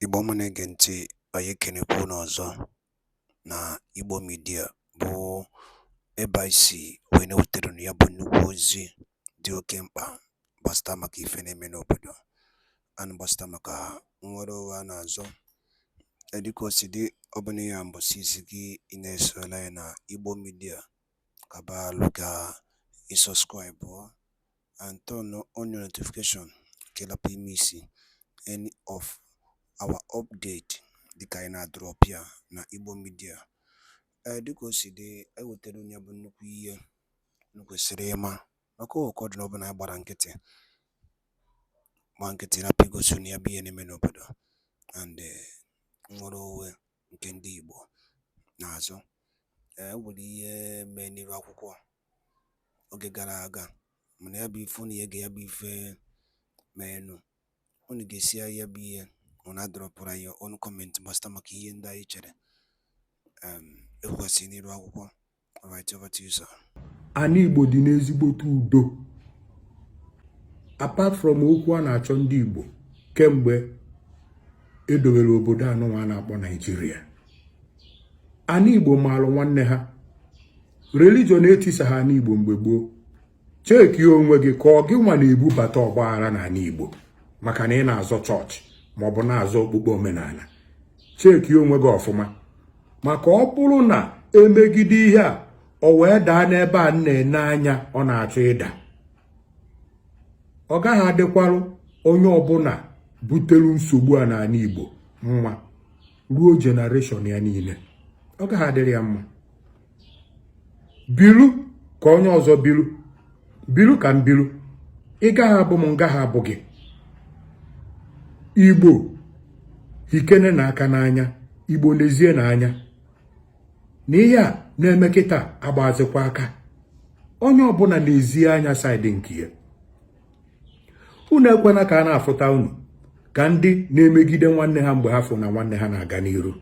Igbo ọma na-ege ntị anyị ekenekwa unu ọzọ na Igbo midia bụ ebe anyị si wee na-ewetara unu ya bụ nnukwu ozi dị oke mkpa gbasata maka ife na-eme n'obodo and gbasata maka nnwere onwe a na-azọ dịka o si dị ọ bụ na ya mbọsị izizi ị na-esolu anyị na Igbo midia ka ba lukea ị sọskraịbụọ and turn on your notification ka ị lapụ ịmiisi any of our update dịka anyị na-adrọp ya na Igbo Media ee dịka o si dị anyị wetara unu ya bụ nnukwu ihe unu kwesịrị ịma maka ụkọ dị n'ọbụla anyị gbara nkịtị gba nkịtị rapụ igosi unu ya bụ ihe na-eme n'obodo and eh, nnwere onwe nke ndị Igbo na-azọ e nwere ihe mee n'iru akwụkwọ oge gara aga mana ya bụ ife unu ga-ege ya bụ ife meenụ unu gesịa ya bụ ihe unu adrọpụrụ your own kọmentị gbasata maka ihe ndị anyị chere ekwesịrị n'iru akwụkwọ Ana Igbo dị n'ezigbote udo apart from okwu a na-achọ ndị Igbo kemgbe edowere obodo anụnwa a na-akpọ Naijiria ana Igbo maalụ nwanne ha religion etisaha ana Igbo mgbe gboo cheki onwe gị ka ọ gị nwa na-ebubata ọgbaghara n'ani Igbo maka na ị na-azọ chọọchị maọbụ na-azọ okpukpe omenana cheki onwe gị ọfụma maka ọ bụrụ na e megide ihe a o wee daa n'ebe a na-ene anya ọ na-achọ ịda ọ gaghị adịkwarụ onye ọbụna butere nsogbu a n'ani Igbo mma ruo jenereshọn ya niile ọ gaghị adịrị ya mma bilu ka onye ọzọ bilu bilu ka m bilu ị gaghị abụ m m gaghị abụ gị igbo hikenenụ aka n'anya igbo nezienụ anya na ihe a na-eme kịta agbazikwa aka onye ọbụna nezie anya saịdị nke ya unu ekwena ka a na-afụta unu ka ndị na-emegide nwanne ha mgbe ha fụ na nwanne ha na-aga n'iru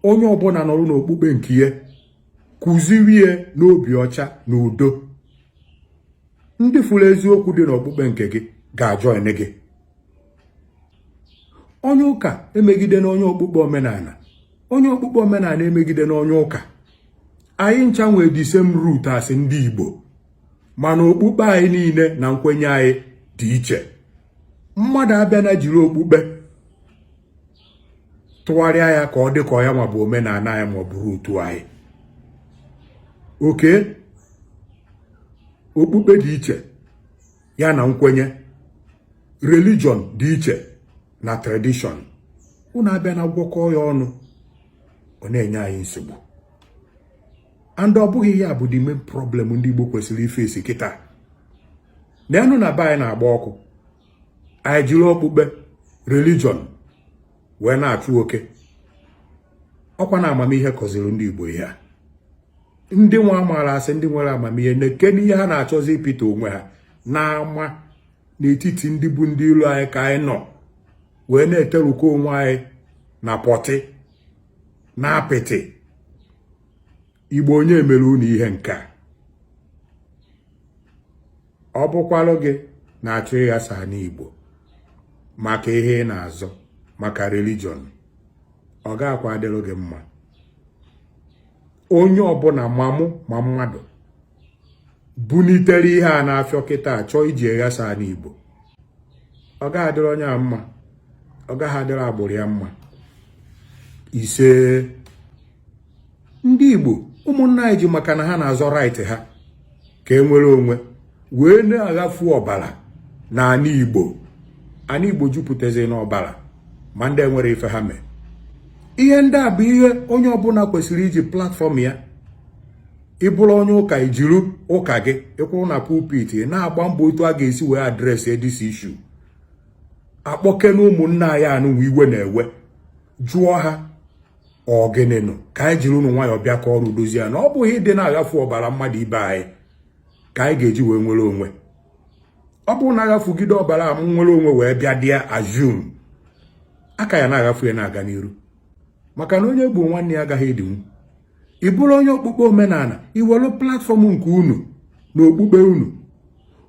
onye ọbụna nọrọ n'okpukpe nke ya kụziwe n'obi ọcha na udo ndị fụrụ eziokwu dị n'okpukpe nke gị ga-ajọin gị onye ụka emegidena onye okpukpe omenana onye okpukpe omenana emegidena onye ụka anyị ncha nwee the same root as ndị Igbo mana okpukpe anyị niile na nkwenye anyị dị iche mmadụ abịana jiri okpukpe tụgharịa ya ka ọ dị ka ọ ya nwa bụ omenala anyị ma ọ bụ root anyị okay okpukpe dị iche ya na nkwenye religion dị iche na tradition unu abịa na-agwọkọ ya ọnụ ọ na-enye anyị nsogbu and ọ bụghị ya bụ the main problem ndị Igbo kwesịrị ịface kịta na enu na be anyị na-agba ọkụ anyị jiri okpukpe religion wee na-achụ oke ọ kwa na amamihe kọziri ndị Igbo ihe a ndị nwa a maara sị ndị nwere amamihe na-eke n'ihe ha na-achọzi ịpịta onwe ha n'ama n'etiti ndị bụ ndị ilo anyị ka anyị nọ wee na-eterukọ onwe anyị na pọtị na apịtị Igbo onye mere unu ihe nke a ọ bụkwalụ gị na-achọ ịghasa ana Igbo maka ihe ị na-azọ maka religion ọ ga-akwa adịrụ gị mma onye ọbụla ma mmụọ ma mmadụ bunitere ihe a na-afịọ kịta chọọ iji eghasa ana Igbo ọ gaghị adịrị onye a mma ọ gaghị adịrị agbụrụ ya mma ise ndị Igbo ụmụnna anyị ji maka na ha na-azọ right ha ka e nwere onwe wee na-aghafu ọbara na ana Igbo ana Igbo jupụtazi n'ọbara ma ndị enwerọ ife ha mee ihe ndị a bụ ihe onye ọbụla kwesịrị iji platform ya ị bụrụ onye ụka i jiru ụka gị ị kwụrụ na pulpit na-agba mbọ otu a ga-esi wee address this issue akpọke na ụmụnna anyị anụnwa iwe na-ewe jụọ ha ọ gịnị nụ ka anyị jirinụ nwayọọ bịakọrụ dozie na ọ bụghị ịdị na-aghafu ọbara mmadụ ibe anyị ka anyị ga-eji wee nwere onwe ọ bụrụ na a ghafugide ọbara a nwere onwe wee bịadị assume a ka ya na-aghafu ya na-aga n'iru maka na onye gburu nwanne ya agaghị edinwu ị bụrụ onye okpukpe omenala i welu platform nke unu na okpukpe unu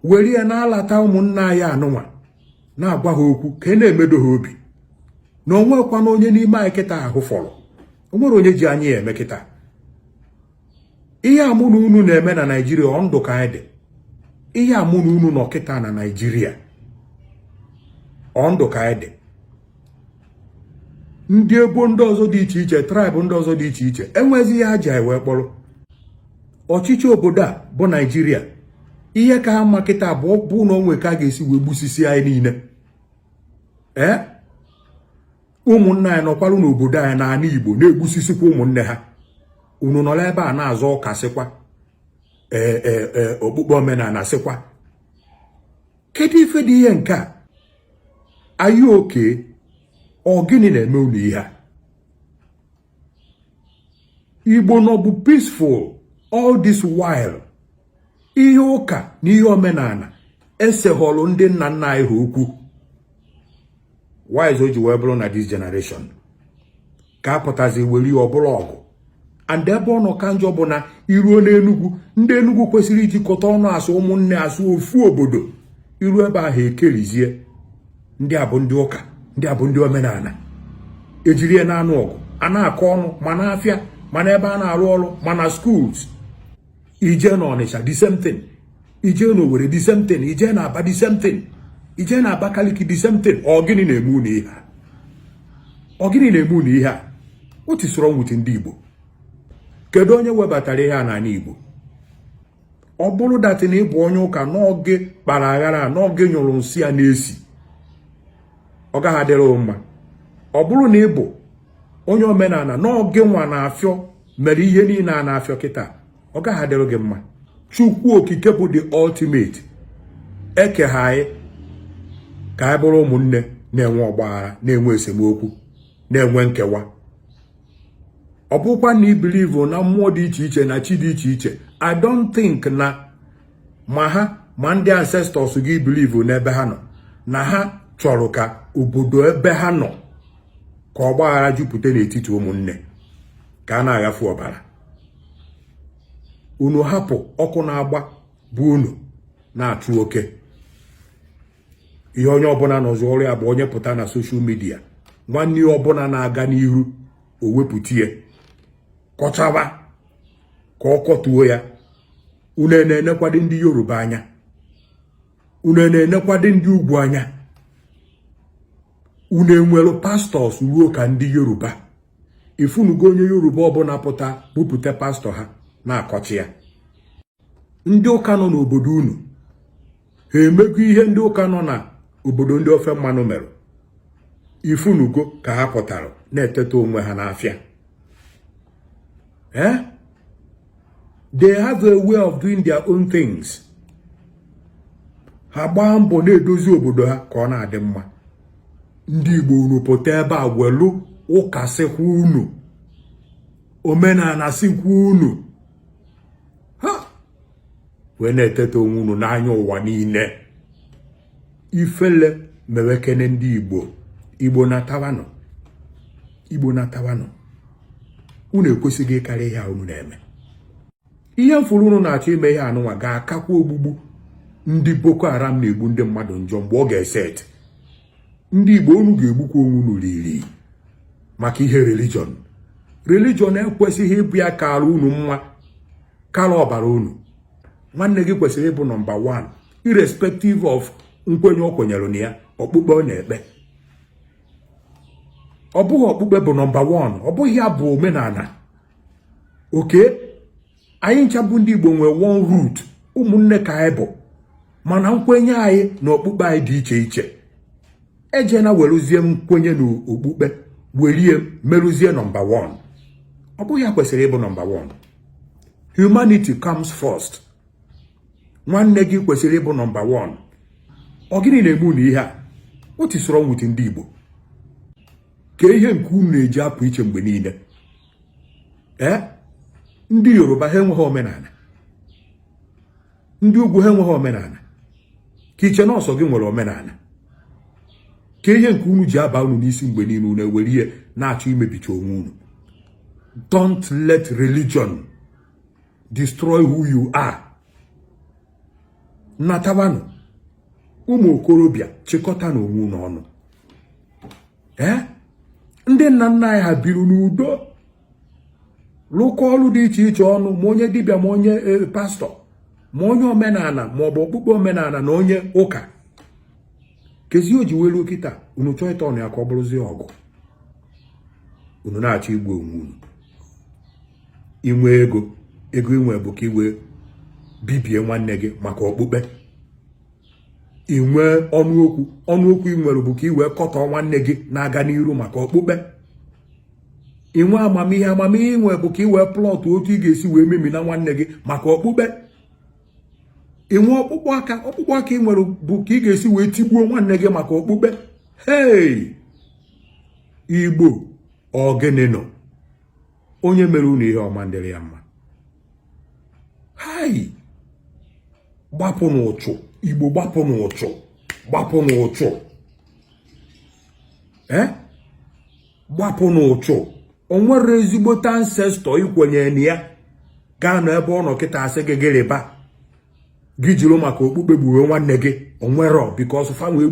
were ya na-alata ụmụnna anyị anụnwa na-agwa ha okwu ka a na-emedo ha obi na o nwekwana onye n'ime anyị kịta ha hụfọrọ o nwere onye ji anyị eme kịta ihe a mụ na unu na-eme na naijiria ọ ndụ ka anyị dị ihe a mụ na unu nọ kịta na naijiria ọ ndụ ka anyị dị ndị ebo ndị ọzọ dị iche iche tribe ndị ọzọ dị iche iche enwezi ihe ha ji anyị wee kpọrọ ọchịchị obodo a bụ naijiria ihe ka ha mma kịta bụ bụ na o nwee ka a ga-esi wee gbusisi anyị niile ee ụmụnna anyị nọkwalụ n'obodo anyị n'ala igbo na-egbusisikwa ụmụnne ha unu nọrọ ebe a na-azọ ụka sịkwa ee e, e, okpukpe omenala sịkwa kedu ife dị ihe nke a are you okay ọ gịnị na-eme unu ihe a igbo nọbu peaceful all this while ihe ụka na ihe omenala eseghọrọ ndị nna nna anyị ha okwu why is o ji wee bụrụ na this generation ka a pụtazi were ya ọ bụrụ ọgụ and ebe ọ nọ ka njọ bụ na i ruo n'enugwu ndị enugwu kwesịrị ijikọta ọnụ as ụmụnne as ofu obodo i ruo ebe ahụ e kerizie ndị a bụ ndị ụka ndị a bụ ndị omenala e jiri ya na-anụ ọgụ a na-akọ ọnụ ma n'afịa ma n'ebe a na-arụ ọrụ ma na schools i jee na ọnịcha the same thing i jee na owere the same thing i jee na aba the same thing i jee na abakaliki the same thing ọ gịnị na-eme unu ihe a ọ gịnị na-eme unu ihe a what is wrong with ndị igbo kedu onye webatara ihe a n'ala igbo ọ bụrụ that na ị bụ onye ụka na ọ gị kpara aghara a na ọ gị nyụrụ nsị a na-esi ọ gaghị adịrị mma ọ bụrụ na ị bụ onye omenala na ọ gịnwa na-afịọ mere ihe niile a na-afịọ kịta ọ gaghị adịrị gị mma chukwu okike bụ the ultimate ekeghị anyị ka anyị bụrụ ụmụnne na-enwe ọgbaghara na-enwe esemokwu na-enwe nkewa ọ bụkwa na i believe na mmụọ dị iche iche na chi dị iche iche i don't think na ma ha ma ndị ancestors gị i believe n'ebe ha nọ na ha chọrọ ka obodo ebe ha nọ ka ọgbaghara jupụta n'etiti ụmụnne ka a na-aghafu ọbara unu hapụ ọkụ na-agba be unu na-achụ oke ihe onye ọbụla nọzi ọrụ ya bụ onye pụta na social media nwanne ya ọbụla na-aga n'ihu o wepụta ya kọchaba ka ọ kọtuo ya unu na-enekwadị ndị yoruba anya unu na-enekwadị ndị ugwu anya unu enwere pastors ruo ka ndị yoruba ị fụnugo onye yoruba ọbụla pụta bupụta pastor ha na-akọcha ya ndị ụka nọ n'obodo unu ha emego ihe ndị ụka nọ na obodo ndị ofe mmanụ mere ị fụnugo ka ha pụtara na-eteta onwe ha n'afịa eh? they have a way of doing their own things ha gbaa mbọ na-edozi obodo ha ka ọ na-adị mma ndị Igbo unu pụta ebe a welu ụka sịkwa unu omenala sịkwa unu ha wee na-eteta onwe unu n'anya ụwa niile ifele mewekene ndị igbo igbo natawanụ igbo natawanụ unu ekwesịghị ịkarị ihe a unu na-eme ihe m fụrụ unu na-achọ ime ihe anụnwa ga-akakwa ogbugbu ndị boko haram na-egbu ndị mmadụ njọ mgbe ọ ga-eset ndị Igbo unu ga-egbukwa onwe unu riri maka ihe religion religion ekwesịghị ịbụ ya kara unu mma kara ọbara unu nwanne gị kwesịrị ịbụ nọmba 1 irrespective of nkwenye o kwenyere na ya okpukpe ọ na-ekpe ọ bụghị okpukpe bụ nọmba 1 ọ bụghị ya bụ omenala okay anyị ncha bụ ndị Igbo nwee one root ụmụnne ka anyị bụ mana nkwenye anyị na okpukpe anyị dị iche iche ejena weruzie nkwenye na okpukpe werie meruzie nọmba 1 ọ bụghị ya kwesịrị ịbụ nọmba 1 humanity comes first nwanne gị kwesịrị ịbụ nọmba 1 ọ gịnị na-eme unu ihe a what is wrong with ndị Igbo ke ihe nke unu na-eji apụ iche mgbe niile ee ndị yoruba ha enweghị omenala ndị ugwu ha enweghị omenala ka i che na ọ sọ gị nwere omenala ka ihe nke unu ji aba unu n'isi mgbe niile unu werie na-achọ imebicha onwe unu don't let religion destroy who you are natawanụ ụmụ okorobịa chịkọtanụ onwe unu ọnụ ee ndị nna nna anyị ha biri n'udo lụkọ ọlụ dị iche iche ọnụ ma onye dibịa ma onye e, pastor ma onye omenala ma ọ bụ okpukpe omenala na onye ụka kezi o ji welu kịta unu chọọ ịta ọnụ ya ka ọ bụrụzie ọgụ unu na-achọ igbu onwe unu i nwee ego ego i nwe bụ ka i wee bibie nwanne gị maka okpukpe i nwee ọnụ okwu ọnụ okwu i nwere bụ ka i wee kọtọọ nwanne gị na-aga n'iru maka okpukpe i nwee amamihe amamihe i nwe bụ ka i wee plot otu ị ga-esi wee memina nwanne gị maka okpukpe i nwee ọkpụkpụ aka ọkpụkpụ aka i nwere bụ ka ị ga-esi wee tigbuo nwanne gị maka okpukpe hei igbo ọ gịnị nọ onye mere unu ihe ọ ma ndịrị ya mma hai gbapụ n'uchu igbo gbapụ n'uchu gbapụ n'uchu ee eh? gbapụ n'uchu o nwere ezigbote ancestor i kwenye na ya ga-anọ ebe ọ nọ kịta asị gị gịrịba gị jiri maka okpukpe gburu nwanne gị o nwerọ because ha nwa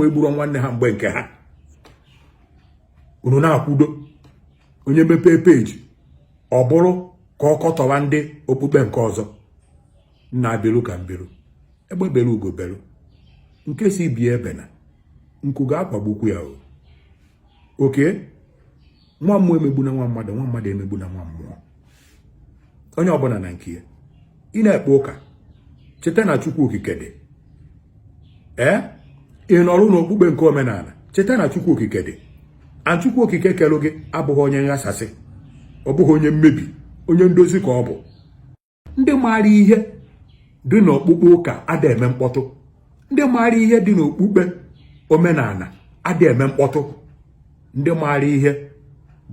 egburo nwanne ha mgbe nke ha unu na-akwudo onye mepee peji ọ bụrụ ka ọ kọtọwa ndị okpukpe nke ọzọ nna belu ka m belu egbe belu ugo belu nke sị ibe ya ebena nku ga-akwagbukwu ya o okay nwa mmụọ emegbuna nwa mmadụ nwa mmadụ emegbuna nwa mmụọ onye ọbụla na nke ya ị na-ekpe ụka cheta na chukwu okike dị ee ị nọrụ n'okpukpe nke omenala cheta na chukwu okike dị and chukwu okike kelu gị abụghị onye nghasasị ọ bụghị onye mmebi onye ndozi ka ọ bụ ndị maara ihe dị n'okpukpe ụka ada eme mkpọtụ ndị maara ihe dị n'okpukpe omenala adị eme mkpọtụ ndị maara ihe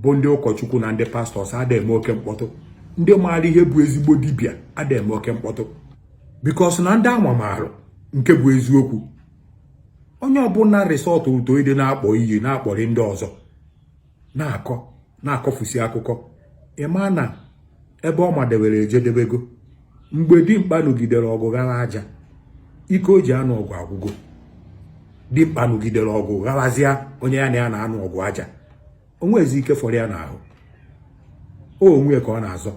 bụ ndị ụkọchukwu na ndị pastors adị eme oke mkpọtụ ndị maara ihe bụ ezigbo dibịa adị eme oke mkpọtụ because na ndị anwa maara nke bụ eziokwu onye ọbụla resort to ịdị na-akpọ iyi na-akpọrị ndị ọzọ na-akọ na-akọfusi akụkọ ị ma na ebe ọ madebere ejedebego mgbe dimkpa nụgidere ọgụ ghara aja ike o ji anụ ọgụ agwụgo dimkpa nụgidere ọgụ gharazịa onye ya na ya na-anụ ọgụ aja o nwezi ike fọrọ ya n'ahụ o onwe ka ọ na-azọ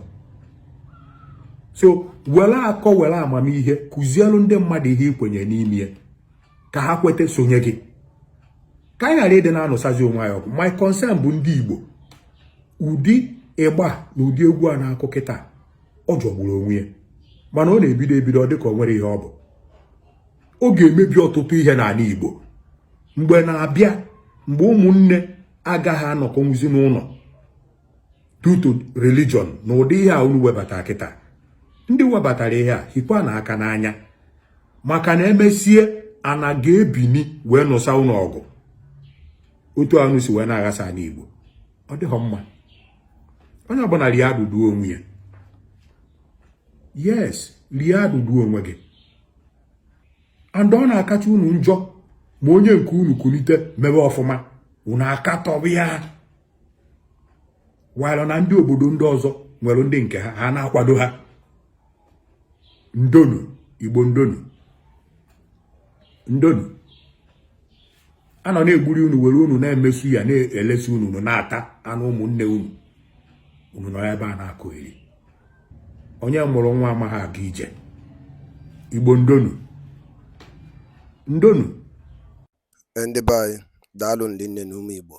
so were akọ were amamihe kụzielu ndị mmadụ ihe i kwenye n'ime ka ha kweta sonye gị ka anyị ghara ịdị na-anụsazi onwe anyị ọgụ my concern bụ ndị Igbo ụdị igba na ụdị egwu a na-akụ kịtaa ọ jọgburu onwe ya mana ọ na-ebido ebido ọ dịka o nwere ihe ọ bụ ọ ga-emebi ọtụtụ ihe n'ala Igbo mgbe na-abịa mgbe ụmụnne agaghị anọkọnwuzi n'ụlọ due to religion na ụdị ihe a unu webata kịtaa ndị webatara ihe a hikwanụ aka n'anya maka na emesie ana ga-ebini wee nụsa unu ọgụ otu unu si wee na-aghasa anị Igbo ọ dịghọ mma onye ọbụla rie adụdu onwe ya yes rie adụdu onwe gị and ọ na-akacha unu njọ ma onye nke unu kulite mebe ọfụma unu akatọba ya while na ndị obodo ndị ọzọ nwere ndị nke ha ha na-akwado ha ndonu igbo ndonu ndonu a nọ na-egburi unu were unu na-eme suya na-elesi unu unu na-ata anụ ụmụnne unu unu nọ ebe a na-akọyeri onye mụrụ nwa amaghị aga ije igbo ndonu ndonu Ee ndị be anyị daalụnụ rinne na ụmụ Igbo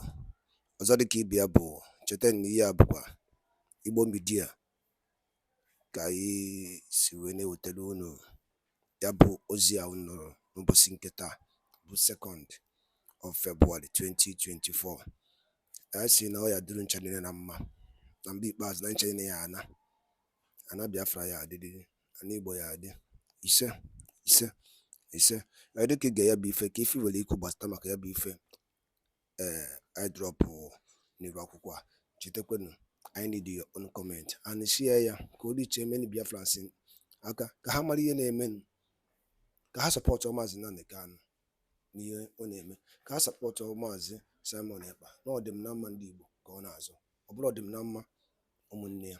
ọzọ dịka ibe ya bụ cheta na ihe a bụkwa Igbo Media ka anyị si wee na-ewetara unu ya bụ ozi a unu nụrụ n'ụbọchị nke taa bụ second of February 2024 anyị si na ọ ya adịrị ncha niile na mma na mgbe ikpeazụ na ncha niile ya ana ana Biafra ya adị ana Igbo ya adị ise ise ise ee dịka i ge ya bụ ife ka ife i nwere ikwu gbasata maka ya bụ ife ee i drop n'iru akwụkwọ a chetakwanụ anyị need your own comment and share ya ka o reach many Biafrans aka ka ha mara ihe na-eme ka ha support maazị Nnamdi Kanu n'ihe ọ na-eme ka ha support maazị Simon Ekpa na ọdịm na mma ndị Igbo ka ọ na-azọ ọ bụrụ ọdịm na mma ụmụnne ya